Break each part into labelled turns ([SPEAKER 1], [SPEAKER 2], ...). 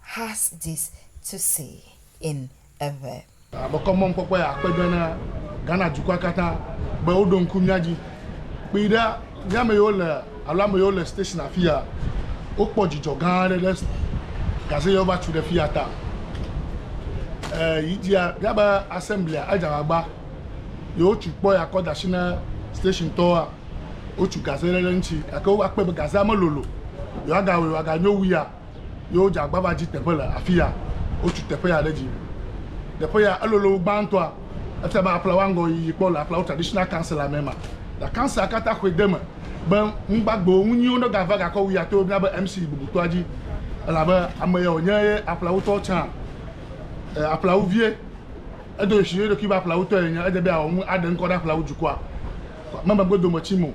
[SPEAKER 1] has this to say in a verb. Abekɔ mɔnukpɔkpɔ
[SPEAKER 2] ya akpe ɖe na Ghana dukɔa katã be woɖo ŋku mía dzi. Kpi ɖa mía ame yiwo le alo ame yiwo le station afi ya wokpɔ dzidzɔ gã aɖe ɖe gaze ye wova tu ɖe fi ya ta. E, yi dzia mía be assemblea edze agbagba ye wotu kpɔ ya kɔ da asi na station tɔa wotu gaze ɖe ɖe ŋuti gake wova kpɔe be gazea melolo yewoagawɔe wòaganyo wu ya. ye wodze agbagba dzi teƒe le afi ya. Wotu teƒe ya ɖe dzi. Teƒe ya elolo wu gbãtɔa. Efia be aƒla woaŋgɔ yiyi kpɔ le aƒla wo traditional council la me ma. Ta council la kata xɔe deme be nugbagbewo nunyuiwo ne gava gakɔ wu ya to mía be MC bubutɔa dzi elabe ame ya wonye ye aƒla wutɔ tsã e aƒla wu vie. Edo ɣeshi ne eɖokui be aƒla wutɔ ye nye edze be awɔ nu aɖe ŋkɔ ɖe aƒla wu dukɔa me megbedometsim o.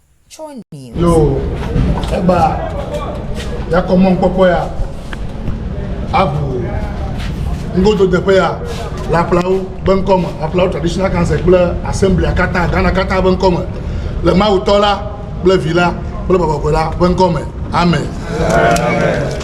[SPEAKER 1] Yo,
[SPEAKER 2] egba yakɔ mɔnkpɔkpɔ ya abu ŋgododeƒe ya le aƒlawo be ŋkɔme aƒlawo traditional council kple assemblia katã ghana katã be ŋkɔme le mawutɔ la kple vi la kple bɔbɔkɔe la be ŋkɔme amen. amen.